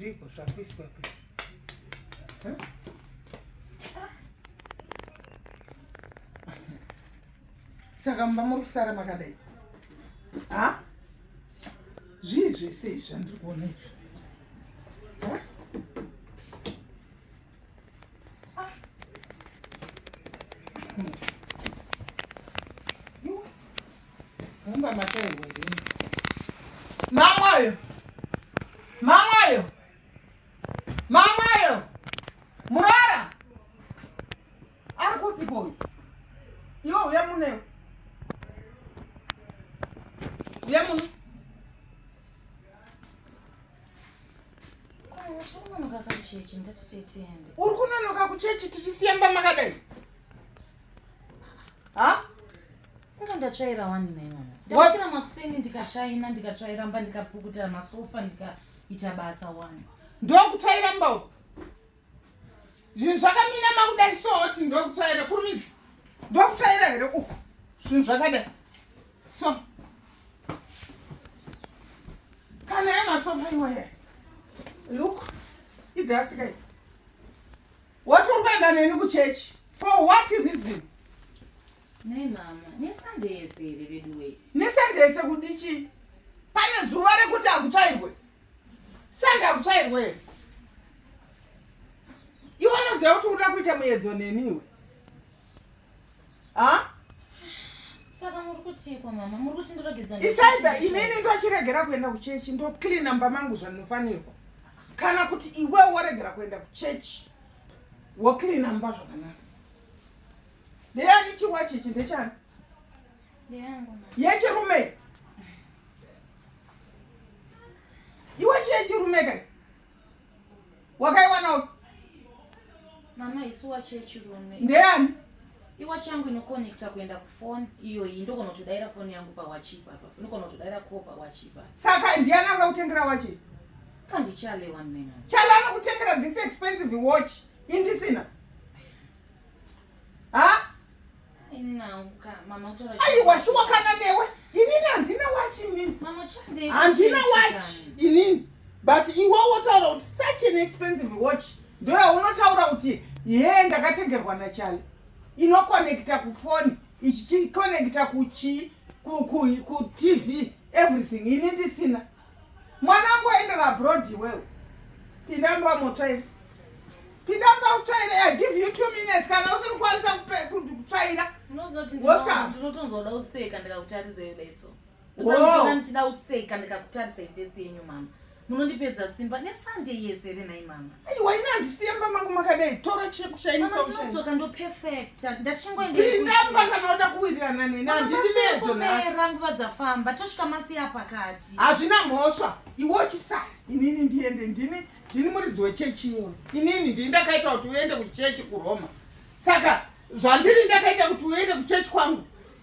zvipo zvakuiswa pe saka mumba muri kusara makadai ha zvii zvese izvi zvandiri kuona izvi Mumba mataiwe rini. Mamayo. Mamayo. Mamayo. Murara. Ari kupi boy? Yo uya mune. Uya mune. uri kunonoka kuchechi tichisiamba makadai ha kunge ndatsvaira wani nai mama ndakira makuseni ndikashaina ndikatsvairamba ndikapukuta masofa ndikaita basa wani ndokutsvairamba uku zvinhu zvakaminama kudai sooti ndokutsvaira kurumidzi ndokutsvaira here uku zvinhu zvakadai so kana yemasofa iwaya look idastika i woti uri kuenda neni kuchechi for what reason nei mama nesande yese here veduwei nesande yese kudichii pane zuva rekuti hakutsvairwe Sanda kutsvairwa here? Iwe unoziva kuti unoda kuita muyedzo neniwe. Ha? Saka muri kutiiko mama? Muri kuti ndiregedza ndochichi- Isaida inini ndochiregera kuenda kuchechi ndocleana mba mangu zvandinofanirwa. Kana kuti iwe woregera kuenda kuchechi wocleana mba zvakanaka. ndeyani chiwachi ichi ndechani yechirume iwachi yechirume kai wakaiwana uku mama isu wachi yechirume ndeyani iwachi yangu inokonekta kuenda kufoni iyoyi ndogona kutodaira foni yangu pawachi ipapa ndogona kutodaira ko pawachi ipapa saka ndiyani akakutengera wachi kandichalewa nena chale anokutengera this expensive watch indisina ha aiwa shuwa kana newe inini handina wachi inini handina wachi inini but iwe wotaura kuti such an expensive watch ndoyaunotaura kuti ye ndakatengerwa nachale inokonekta kufoni ichichikonekta kuchi kutv everything ini ndisina Mwana wangu waendera abroad iwewe. Pinda mba motsvaira. Pinda mba utsvaire. I give you two minutes kana usiri kwanisa kutsvaira. Unozoti ndinotonzoda useka ndikakutarisa yoda iso. Usandina ndichida useka ndikakutarisa ifesi yenyu mama. Munondipedza simba neSunday yese here nhai mama? aiwa ini handisiye mba mangu makadai tora chekushainitsoka ndo perfecta ndachingoindapinda kana oda kuwirirana neni handindimeedzonera nguva dzafamba tosvika masiya pakati hazvina mhosva iwe uchisara inini ndiende ndini ndini muridzi wechechi iwe inini ndini ndakaita kuti uende kuchechi kuroma saka zvandiri ndakaita kuti uende kuchechi kwangu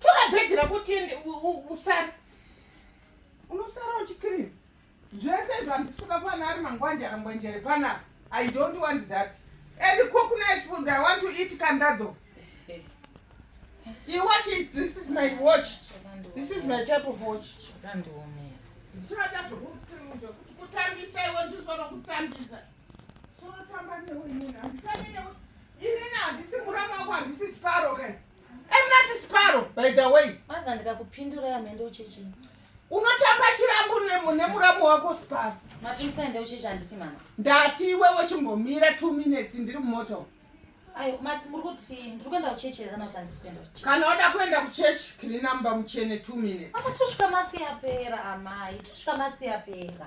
tora bhegi rako tiende usare unosara uchikirima zvese izvo handisi kuda kuwana ari mangwanjara ngwenjere panapa i don't want that and cook nice food i want to eat kandadzo you watch it this is my watch this is my type of watch ndichada zvekutambisa iwe ndizvara kutambisa sorotamba newe inini handitambire inini handisi murama wako handisi sparo kai I'm not Sparo by the way. Mother ndikakupindura yamende ucheche. Unotamba chirambo nemuramu wako Sparo. Mati musaende ucheche handiti mama. Ndati iwewe chimbomira 2 minutes ndiri mumoto. Ayo muri kuti ndiri kuenda kucheche kana kuti handisi kuenda kucheche. Kana wada kuenda kucheche kiri namba muchene 2 minutes. Mama tosvika masi yapera amai tosvika masi yapera.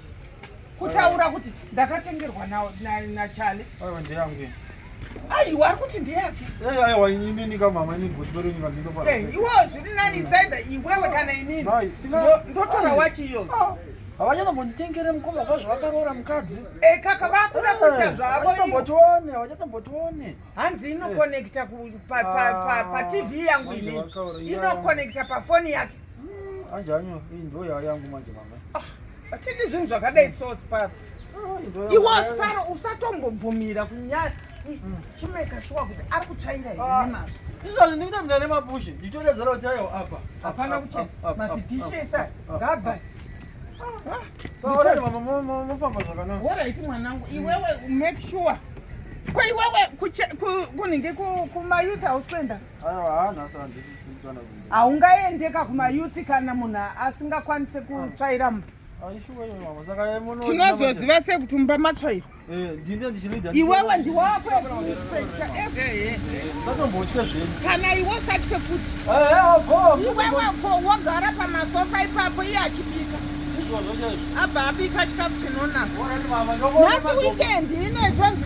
kutaura kuti ndakatengerwa nachale aiwa ndeyangu aiwa ari kuti ndeyake eh, aiwa inini kamama ini goti pedu nyika ndinofara eh, iwo zviri nani isaida iwewe kana inini ndotora wachi iyoyo ah, havanyana monditengere mukoma kwazvo vakaroora mukadzi e kaka vakuda eh, kuita zvavoambotione havachatombotione hanzi inokonekta patv ah, yangu inini inokonekta pafoni yake Mm, manje hanyo iyi ndo yava yangu manje mama. Ah, Atidi zvinhu zvakadai so Sparo. Ah, Iwo Sparo usatombobvumira kunyaya mm. chimeka shuwa kuti ari kuchaira here ah. nemazvo. Izvozvo ndikuita kuti ndane mapushe nditore zero chaiwo apa. Hapana kuchena mazidhishe esa ngabva. Mofamba zvakanaka. Worait mwanangu iwewe make sure. Ko iwewe kunenge kumayouth house kuenda. Ku, haungaende ka kumayuthi kana munhu asingakwanise kutsvaira mba tinozoziva sekuti mumba matsvairwa eh, iwewe ndiwako kana iwe usatye futi eh, eh, iweweko wogara pamasofa ipapo iye achibika abva abika chikafu chinonaka nhasi wikendi inoitonzi